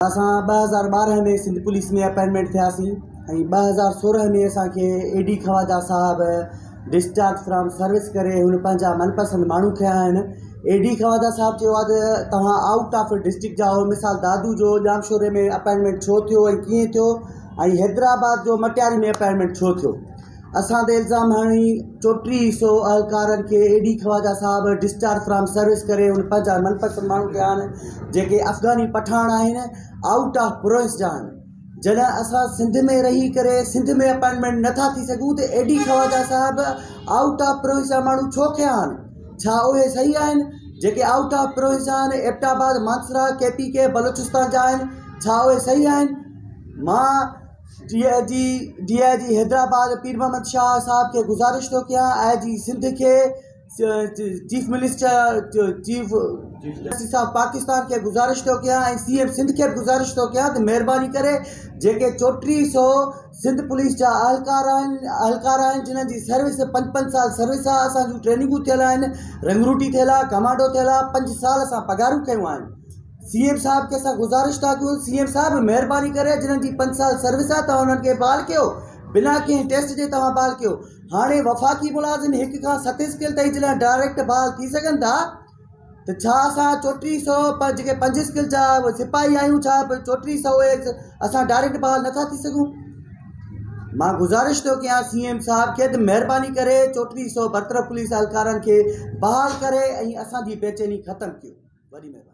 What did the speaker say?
اسان ٻه هزار ٻارهن ۾ سنڌ پوليس ۾ اپائنٽمينٽ ٿياسين ۽ ٻه هزار سورهن ۾ اسانکي اي ڊي خواجا صاحب ڊسچارج فرام سروس ڪري هن پنهنجا من پسند ماڻهو کنيا آهن اي ڊي خواجا صاحب چيو آهي ته توهان آئوٽ آف ڊسٽرڪٽ جا آهيو مثال دادو جو ڄامشوري ۾ اپائنٽمينٽ ڇو ٿيو ۽ ڪيئن ٿيو ۽ حيدرآباد جو مٽياري ۾ اپائنٽمينٽ ڇو ٿيو اسان تي الزام هڻي چوٽيهه سو اهلڪارن کي اي ڊي خواجا صاحب ڊسچارج فرام سروس ڪري ان پنهنجا من پسند ماڻهو ڪيا آهن جيڪي افغاني پٺاڻ آهن آئوٽ آف پروئنس جا آهن جڏهن اسان سنڌ ۾ رهي ڪري سنڌ ۾ اپائنٽمينٽ نٿا ٿي سگهون ته اي ڊي خواجا صاحب آئوٽ آف پروئنس جا ماڻهو ڇو ڪيا آهن ڇا اهي صحيح آهن جيڪي آئوٽ آف پروئنس جا آهن ايبٽ آباد مانسرا ڪي پي ڪي بلوچستان جا آهن ڇا اهي صحيح آهن مان D I G D I G Hyderabad Pir Muhammad Shah صاحب کي گذارش ٿو ڪيان آء جي سنڌ کي چيف منسٽر چيف جسٽس صاحب پاڪستان کي گذارش ٿو ڪيان ۽ سي ايم سنڌ کي به گذارش ٿو ڪيان ته مهرباني ڪري جيڪي چوٽيهه سو سنڌ پوليس جا اهلڪار آهن اهلڪار آهن جنهن جي سروس پنج پنج سال سروس آهي اسان جون ٽريننگون ٿيل آهن رنگروٽي ٿيل آهي ڪمانڊو ٿيل آهي پنج سال اسان پگهارون ڪيون آهن سي ايم صاحب کي اسان گذارش ٿا ڪيون سي ايم صاحب مھرباني ڪري جنھن جي پنج سال سروس آ توھان انھن کي بحال ڪيو بنا ڪنھن ٽيسٽ جي توھان بحال ڪيو ھاڻي وفاقي ملازم ھڪ کان ست اسڪيل تائين جڏھن ڊائريڪٽ بحال ٿي سگھن ٿا ته ڇا اسان چوٽيھھ سئو پر جيڪي پنج اسڪيل جا سپاھي آھيون ڇا چوٽيھھ سئو اھي اسان ڊائريڪٽ بحال نٿا ٿي سگھون مان گذارش ٿو ڪيان سي ايم صاحب کي ته مھرباني ڪري چوٽيھھ سئو برطرف پوليس اھلڪارن کي بحال ڪري ۽ اسان جي بيچيني ختم ڪيو وڏي مھرباني